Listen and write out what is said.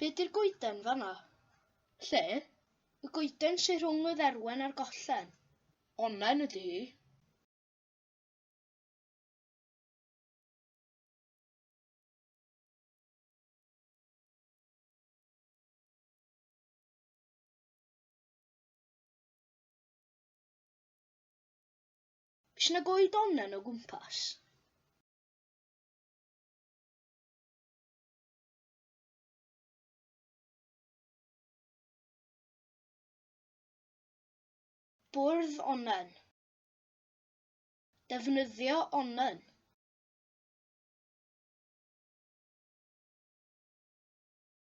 Be di'r goeden fanna? Lle? Y goeden sy rhwng y dderwen a'r gollen. Onnen ydy hi. Oes yna goedonnen o gwmpas? Bwrdd onnen. Defnyddio onnen.